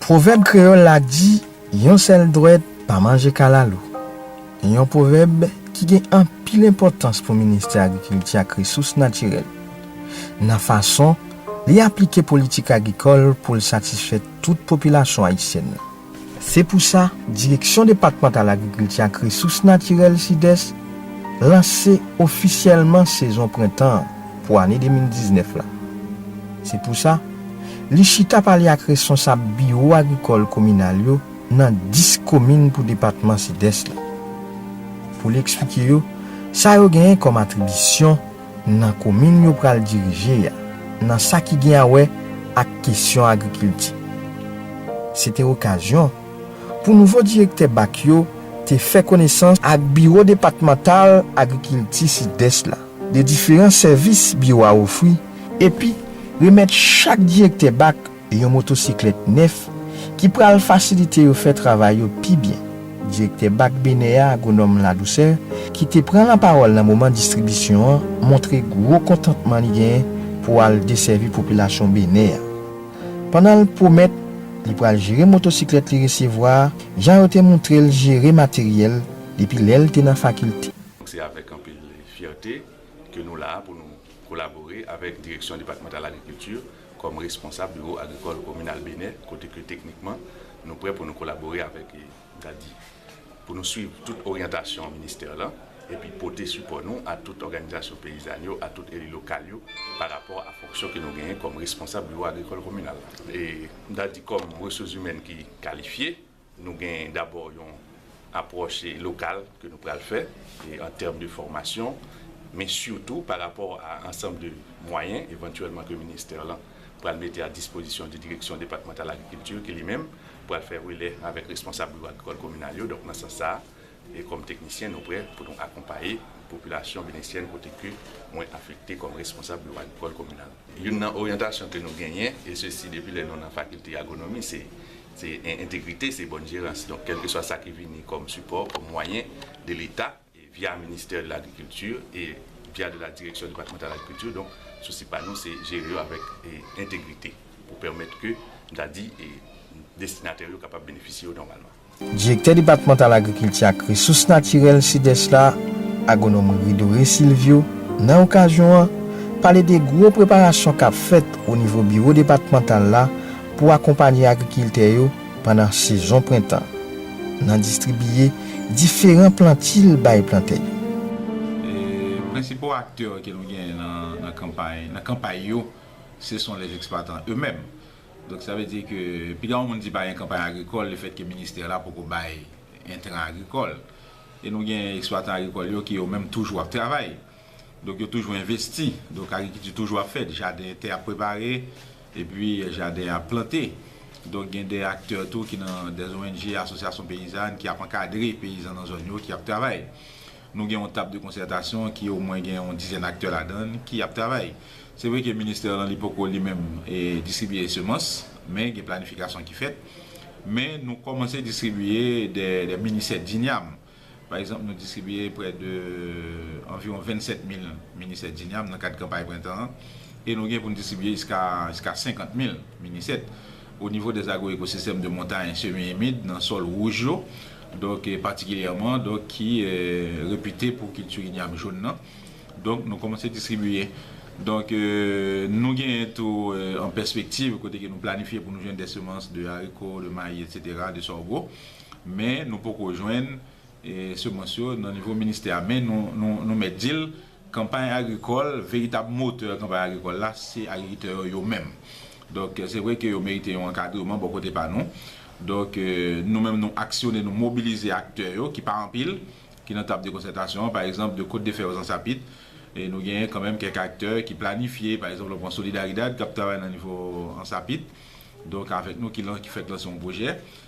Pwovèb kreyòl la di, Yon sèl dwèt pa manje kalalou. Yon pwovèb ki gen anpil enpòtans pou Ministè Agrikilti ak Resous Natirèl, nan fason li aplike politik agrikòl pou l satisfè tout popilasyon ayisyèn nan. Se pou sa, Direksyon Depatmantal Agrikilti ak Resous Natirèl Sidès lanse ofisyèlman sezon prentan an pou ane 2019 la. Se pou sa, li chita pale ak responsab biwo agrikòl kominal yo nan 10 komin pou depatman Sidès la, pou li eksplike yo sa yo genyen kòm atribisyon, nan komin yo pral dirije a nan sa ki gen a wè ak kesyon agrikilti. Se te okazyon pou nouvo direktè bak yo te fè konesans ak biwo depatmantal agrikilti Sidès la de diferan sèvis biwo a ofri epi remèt chak direktè bak Yon motosiklèt nèf ki pral fasilite yo fè travay yo pi byen. Direktè Bak Benè a, Agwonòm Ladouceur, ki te pran lapawòl nan moman distribisyon an, montre gwo kontantman li genyen pou al desèvi popilasyon Benè a. Pandan l pwomèt li pral jere motosiklèt li resevwa a jan yo te montre l jere materyèl depi lè l te nan fakilte. Se avèk anpil fyète ke nou la a pou nou kolabore avèk Direksyon Depatmantal Agrikilti. Kòm responsab biwo agrikòl kominal Benè, kote ke teknikman nou prè pou nou kolabore avèk Dadi, pou nou swiv tout oryantasyon ministè lan, epi pote sipò nou a tout òganizasyon peyizàn yo, a tout eli lokal yo, pa rapò a fonksyon ke nou genyen kòm responsab biwo agrikòl kominal la. E Dadi kòm resouzimèn ki kalifye. Nou gen dabò yon apwòch lokal ke nou pral fè an tèm de fòmasyon, men sitou pa rapò a ansanm de mwayen evantyèlman ke ministè lan pral mete a dispozisyon de direksyon depatmantal agrikilti ki li menm pral fè relè avèk responsab biwo agrikòl kominal yo. Donk nan sans sa a kòm teknisyen nou prè pou nou akonpaye popilasyon benesyèn kote ke mwen afekte kòm responsab biwo agrikòl kominal. Youn nan oryantasyon ke nou genyen e sesi depi lè nou nan fakilte agwonomi se Se entegrite, se bòn jerans. Donk, kèlkeswa sa ki vini kòm sipò, kòm mwayen de Leta, via Ministè de lagrikilti e via de la Direksyon depatmantal agrikilti, donk, sousi pa nou se jere yo avèk entegrite pou pèmèt ke, m ta di, destinatè yo kapab benefisye yo nòmalman. Direktè depatmantal agrikilti ak resous natirèl Sidès la, Agwonòm Ridore Silvio, nan okazyon an, pale de gwo preparasyon k ap fèt onivo biwo depatmantal la Pou akonpanye agrikiltè yo pandan sezon prentan nan distribiye diferan plantil bay plantè yo. Prensipal aktè ke nou genyen nan kanpay nan kanpay yo se son les exploitants eux mêmes. Donk sa vle di ke piga yon moun di pa gen kanpay agrikòl le fèt ke ministè la poko bay entran agrikòl. E nou gen eksplwatan agrikòl yo ki yo menm toujou ap travay. Donk yo toujou envesti. Donk agrikilti toujou ap fèt. Jaden, tè ap prepare, epi jaden ap plante. Donk gen de aktè tou ki nan de ong, asosyasyon peyizàn ki ap ankadre peyizan nan zòn yo ki ap travay. Nou gen yon tab de konsètasyon ki omwen gen yon dizèn aktè ladan l ki ap travay. Se vre ke ministè lan li poko li menm distribiye semans, men gen planifikasyon ki fèt. Men nou kòmanse distribiye de mini sèt dinyam. Pa egzanp, nou distribiye prè de anviwon 27 mil mini sèt Djinyam nan kad kanpay prentan an e nou gen pou n distribiye jiska jiska 50 mil mini sèt o nivo dè agwoekosistèm de montay semi imid nan sòl wouj yo donk patikilyèman donk ki repite pou kilti Inyam joun nan donk nou kòmanse distribiye donk nou genyen tou an pèspektiv kote ke nou planifye pou nou jwenn dè semans de ariko de mayi etsetera de sògo. Men nou poko jwenn semans yo nan nivo ministè a. Men nou mèt di l, kanpay agrikòl, veritab motè kanpay agrikòl la, se agrikitè yo yo menm. Donk, se vre ke yo merite yon ankadreman bò kote pa nou. Donk, nou menm nou aksyone, nou mobilize aktè yo ki pa anpil, ki nan tab de konsètasyon an. Pa egzanp, de Kot de Fè Ozansapit, nou genyen kanmenm kèk aktè ki planifye. Pa egzanp, lè w pran Solidaridad k ap travay nan nivo Ansapit, donk avèk nou ki fèk lanse yon pwojè.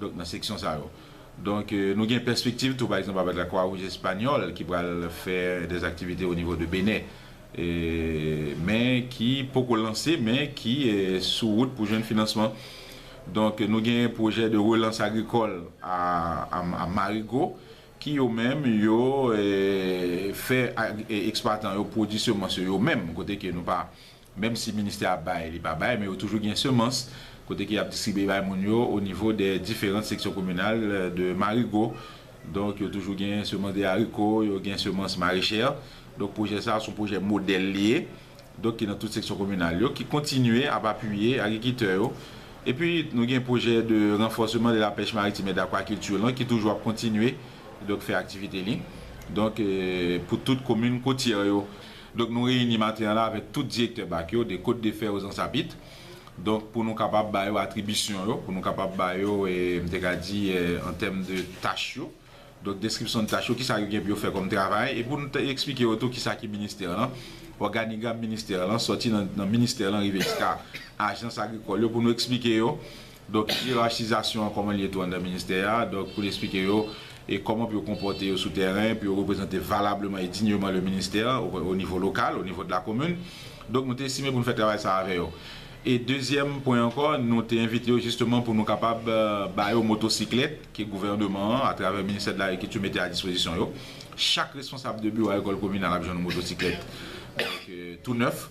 Donk nan seksyon sa yo. Donk nou gen pèspektiv tou pa egzanp avèk la Kwa Wouj Espanyòl ki pral fè des aktivite o nivo de Benè men ki poko lanse men ki sou wout pou jwenn finansman. Donk nou gen pwojè de relans agrikòl a Marigo ki yo menm yo fè eksplwatan yo pwodwi semans yo yo menm kote ke nou pa Menm si ministè a bay li pa bay men yo toujou gen semans kote ke yap distribye bay moun yo o nivo dè diferant seksyon kominal de marigo donk yo toujou gen semans de ariko yo gen semans marechè donk pwojè sa son pwojè modèl li ye donk ki nan tout seksyon kominal yo ki kontinye ap apiye agrikitè yo epi nou gen pwojè de ranfòseman de la pèch maritim e dakwakilti lan ki toujou ap kontinye donk fè aktivite li donk pou tout komin kotyè yo. Donk nou reyini maten an la avèk tout direktè bak yo de Côte de Fer aux Ansapites, donk pou nou kapab ba yo atribisyon yo, pou nou kapab ba yo, m te ka di, an tèm de tach yo, donk deskripsyon de tach yo, kisa yo gen pou yo fè kòm travay, e pou nou te eksplike yo tou kisa ki ministè lan, òganigram ministè lan, sòti nan ministè lan rive jiska ajans agrikòl yo, pou nou eksplike yo Donk iyerachizasyon an kòman li ye tou anndan ministè a, donk pou l esplike yo e kòman pou yo konpòte yo sou tèren pou yo reprezante valableman e dignement le ministère au niveau local, au niveau de la commune. Donk nou te estime pou nou fè travay sa a avè yo. E dezyèm pwen ankò, nou te envite yo jisteman pou nou kapab ba yo motosiklèt ke gouvèneman an atravè ministè de l'agriculture mete a dispozisyon yo. Chak responsab de biwo agrikòl kominal ap jwenn yon motosiklèt donk tou nèf.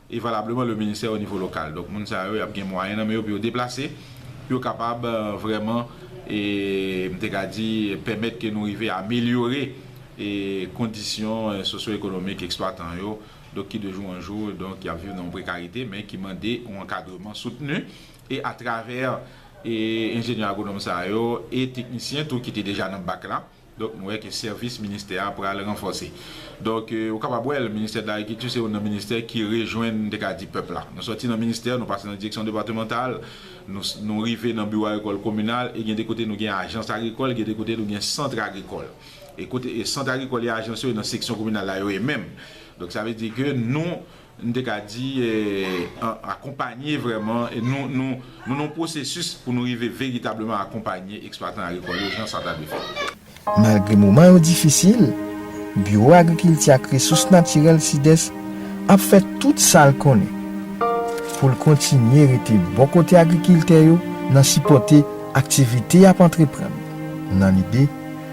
e valableman le ministère au niveau local donk moun sa yo yap gen mwayen nan men yo pou yo deplase pou yo kapab vrèman e m te ka di pèmèt ke nou rive amelyore e kondisyon sosyo ekonomik eksplwatan yo donk ki de jou an jou donk yap viv nan yon prekarite men ki mande yon ankadreman soutni e atravè e enjenyè agwonòm sa yo e teknisyen tou ki te deja nan bak la. Donk nou wè ke sèvis ministè a pral ranfòse. Donk ou kapab wè l, ministè de lagrikilti se youn nan ministè ki rejwenn m te ka di pèp la. Nou sòti nan ministè, nou pase nan direksyon depatemantal, nou rive nan biwo agrikòl kominal e gen de kote nou gen ajans agrikòl, gen de kote nou gen sant agrikòl. E kote sant agrikòl e ajans yo e nan seksyon kominal la yo e menm. Donk sa vle di ke nou. n te ka di, akonpanye vrèman, nou nan yon pwosesis pou nou rive veritableman akonpanye eksplwatan agrikòl yo jan sa ta dwe fèt. Malgre moman yo difisil, Biwo Agrikilti ak Resous Natirèl Sidès ap fè tout sa l konnen pou l kontinye rete bò kote agrikiltè yo nan sipòte aktivite y ap antreprann nan lide